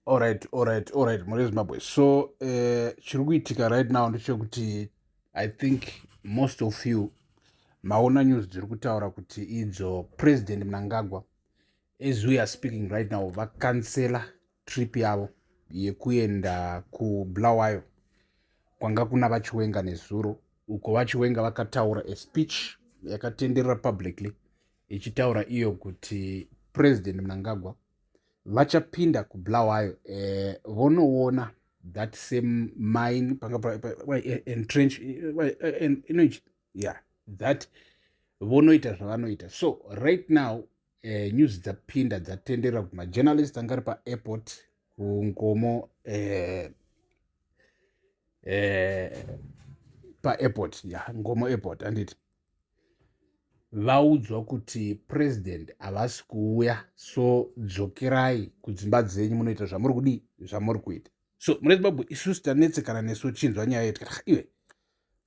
Alright, alright, alright, Mure Zimbabwe. So, uh, chiri kuitika right now ndechekuti I think most of you maona news dziri kutaura kuti idzo President Mnangagwa as we are speaking right now vakansela trip yavo yekuenda kuBulawayo kwanga kuna vachiwenga nezuro uko vachiwenga vakataura a speech yakatenderera publicly ichitaura iyo kuti President Mnangagwa vachapinda kubulawayo eh, vonoona that same mine entrench energy yeah that vonoita zvavanoita so right now uh, news dzapinda dzatendera kuti majournalist anga ari paairport kungomo uh, uh, paairport ya yeah, ngomo airport anditi vaudzwa kuti president havasi kuuya so dzokerai kudzimba dzenyu munoita zvamuri kudii zvamuri kuita so mune zimbabwe isusu tanetsekana nesu chinzwa nyaya yedu ah, iwe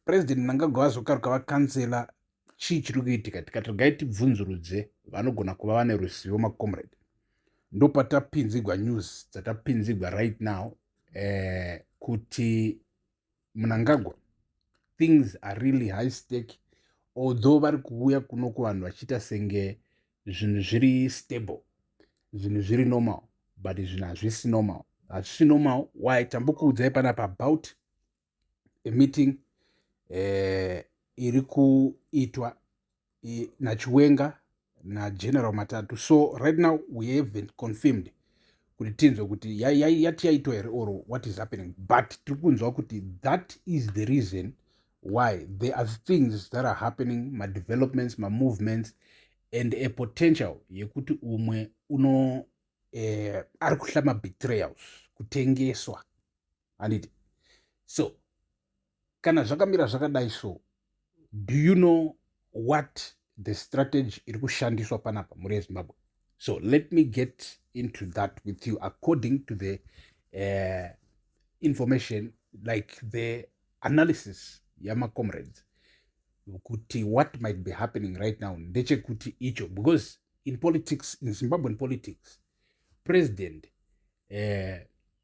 president mnangagwa vazokaruka vakansela chii chiri kuitika tikati regai tibvunzurudze vanogona kuva vane ruzivo macomrade ndopatapinzigwa news dzatapinzigwa right now eh, kuti munangagwa things are really high stake although vari kuuya kuno kuvanhu vachiita senge zvinhu zviri stable zvinhu zviri normal but zvinhu hazvisi normal hazvisi normal why tambokuudzai panapa about a meeting eh, iri kuitwa eh, nachiwenga nageneral matatu so right now we haven't confirmed kuti tinzwe kuti yati yaitwa here or what is happening but tiri kunzwa kuti that is the reason why there are things that are happening madevelopments mamovements and a potential yekuti umwe uno eh, ari kuhla mabetrayals kutengeswa handiti so kana zvakamira zvakadai so do you know what the strategy iri kushandiswa panapa mhuri yezimbabwe so let me get into that with you according to the uh, information like the analysis yamacomrades kuti what might be happening right now ndechekuti icho because in politics in zimbabwean politics president uh,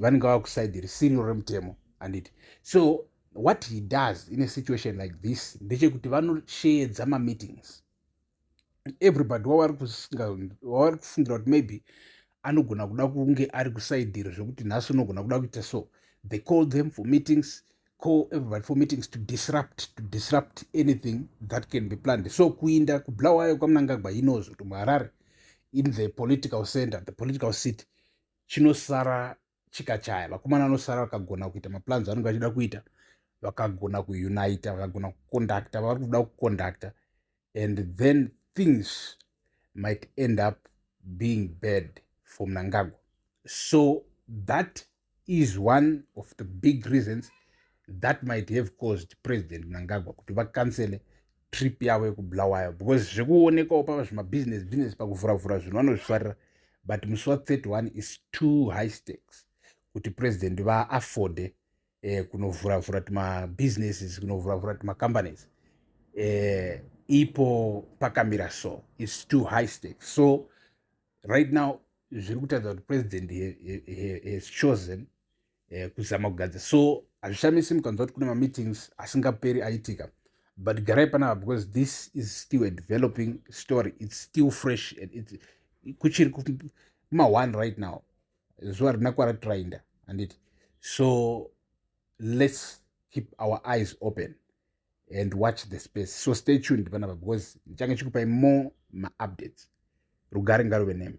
vanenge vava kusaidhi risiri remutemo handiti so what he does in a situation like this ndechekuti vanosheedza mameetings everybody wavari kufungira kuti maybe anogona kuda kunge ari kusaidhiri zvekuti nhasi unogona kuda kuita so they call them for meetings call everybody for meetings to disrupt to disrupt anything that can be planned so kuinda kublawayo kwamunangagwa inoz kuti muharare in the political center the political city chinosara chikachaya vakomana vanosara vakagona kuita maplans vanenge vachida kuita vakagona kuunita vakagona kuconducta vavari kuda kuconducta and then things might end up being bad for mnangagwa so that is one of the big reasons that might have caused president mnangagwa kuti vakansele trip yavo yekubulawayo because zvekuonekawo pava zvemabusiness business pakuvhuravhura zvinhu vanozvifarira but musi wa 31 is too high stakes kuti president vaafforde eh, kunovhura vhura tuma businesses kunovhura vhura tuma companies eh, ipo pakamira so its too high stake so right now zviri kutaridza kuti president has chosen eh, kuzama kugadza so hazvishamisi mukanzwa kuti kune mameetings asingaperi aitika but garai panapa because this is still a developing story its still fresh and it, kuchiri kuma one right now zuva rina kwaratorainda handiti so let's keep our eyes open and watch the space so stay tuned panapa because ndichange chikupai more maupdates rugare ngaruve nemi